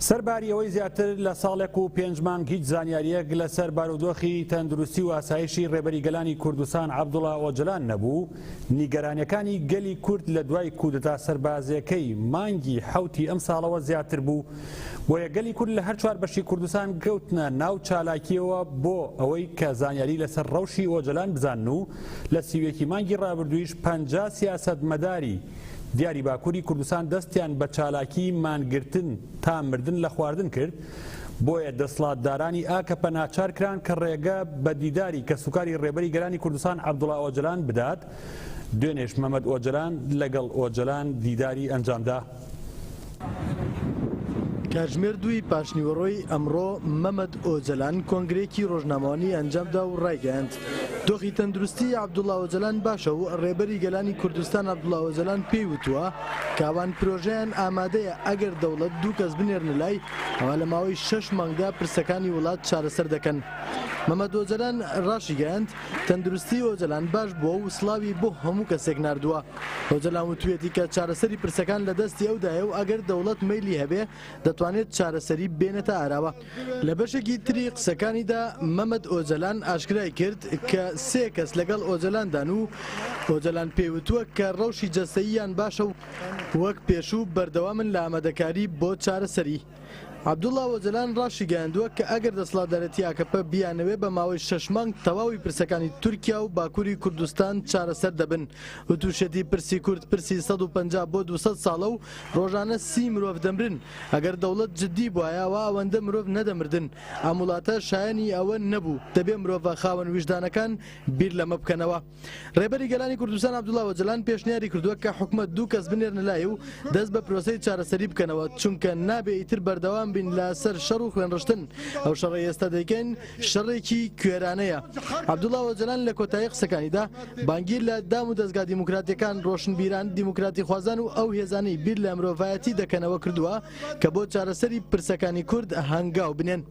سەرباری ئەوەی زیاتر لە ساڵێک و پێنج مانگ هیچ زانیارییەک لەسەر بارودۆخی تەندروستی و ئاسایشی ڕێبەری گەلانی کوردستان عەبدوڵا ئۆجەلان نەبوو، نیگەرانیەکانی گەلی کورد لە دوای کودەتا سەربازیەکەی مانگی حەوتی ئەمساڵەوە زیاتر بوو، بۆیە گەلی کورد لە هەر چوار بەشی کوردستان کەوتنە ناو چالاکیەوە بۆ ئەوەی کە زانیاری لەسەر ڕەوشی ئۆجەلان بزانن و لە سی و یەکی مانگی ڕابردوویش پەنجا سیاسەتمەداری دیاری باکوری کوردستان دەستیان بە چالاکی مانگرتن تا مردن لە خواردن کرد، بۆیە دەسڵاتدارانی ئاکەپە ناچار کران کە ڕێگە بە دیداری کەسوکاری ڕێبەری گەلانی کوردستان عەبدوڵا ئۆجەلان بدات، دوێنێش مەمەد ئۆجەلان لەگەڵ ئۆجەلان دیداری ئەنجامدا. کاتژمێر دووی پاشنیوەڕۆی ئەمڕۆ مەمەد ئۆجەلان کۆنگرەیەکی ڕۆژنامەوانی ئەنجامدا و ڕایگەیاند، دۆخی تەندروستی عەبدوڵا ئۆجەلان باشە و ڕێبەری گەلانی کوردستان عەبدوڵا ئۆجەلان پێی وتووە کە ئەوان پرۆژەیان ئامادەیە ئەگەر دەوڵەت دوو کەس بنێرنە لای ئەوا لە ماوەی شەش مانگدا پرسەکانی وڵات چارەسەر دەکەن. مەمەد ئۆجەلان ڕاشیگەیاند، تەندروستی ئۆجەلان باش بووە و سڵاوی بۆ هەموو کەسێک ناردووە. ئۆجەلان وتویەتی کە چارەسەری پرسەکان لە دەستی ئەودایە و ئەگەر دەوڵەت مەیلی هەبێ دەتوانێت چارەسەری بێنێتە ئاراوە. لە بەشێکی تری قسەکانیدا مەمەد ئۆجەلان ئاشکرای کرد کە سێ کەس لەگەڵ ئۆجەلاندان و ئۆجەلان پێی وتووە کە ڕەوشی جەستەییان باشە و وەک پێشوو بەردەوامن لە ئامادەکاری بۆ چارەسەری. عەبدوڵا ئۆجەلان ڕاشیگەیاندووە کە ئەگەر دەسەڵاتدارێتی ئاکەپە بیانەوێ بە ماوەی شەش مانگ تەواوی پرسەکانی تورکیا و باکوری کوردستان چارەسەر دەبن وتوشیەتی پرسی کورد پرسی سەد و پەنجا بۆ دوو سەد ساڵە و ڕۆژانە سی مرۆڤ دەمرن ئەگەر دەوڵەت جدی بوایە ئەوا ئەوەندە مرۆڤ نەدەمردن ئەم وڵاتە شایەنی ئەوە نەبوو دەبێ مرۆڤە خاوەن ویژدانەکان بیر لەمە بکەنەوە. ڕێبەری گەلانی کوردستان عەبدوڵا ئۆجەلان پێشنیاری کردووە کە حکومەت دوو کەس بنێرنە لای و دەست بە پرۆسەی چارەسەری بکەنەوە، چونکە نابێ ئیتر بەردەوام بین لە سەر شەڕ و خوێنڕشتن، ئەو شەڕەی ئێستا دەیکەین شەڕێکی کوێرانەیە. عەبدوڵا ئۆجەلان لە کۆتایی قسەکانیدا بانگی لە دام و دەزگا دیموکراتییەکان، ڕۆشنبیران، دیموکراتیخوازان و ئەو هێزانەی بیر لە مرۆڤایەتی دەکەنەوە کردووە کە بۆ چارەسەری پرسەکانی کورد هەنگاو بنێن.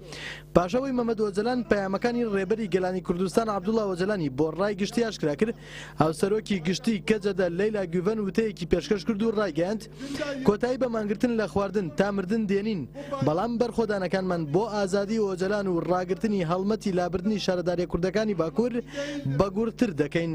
پاش ئەوەی مەمەد ئۆجەلان پەیامەکانی ڕێبەری گەلانی کوردستان عەبدوڵا ئۆجەلانی بۆ ڕای گشتی ئاشکرا کرد، هاوسەرۆکی گشتی کەجەدە لەیلا گوڤەن وتەیەکی پێشکەش کرد و ڕایگەیاند، کۆتایی بە مانگرتن لە خواردن تا مردن دێنین، بەڵام بەرخۆدانەکانمان بۆ ئازادی ئۆجەلان و ڕاگرتنی هەڵمەتی لابردنی شارەداریە کوردەکانی باکور بەگوڕتر دەکەین.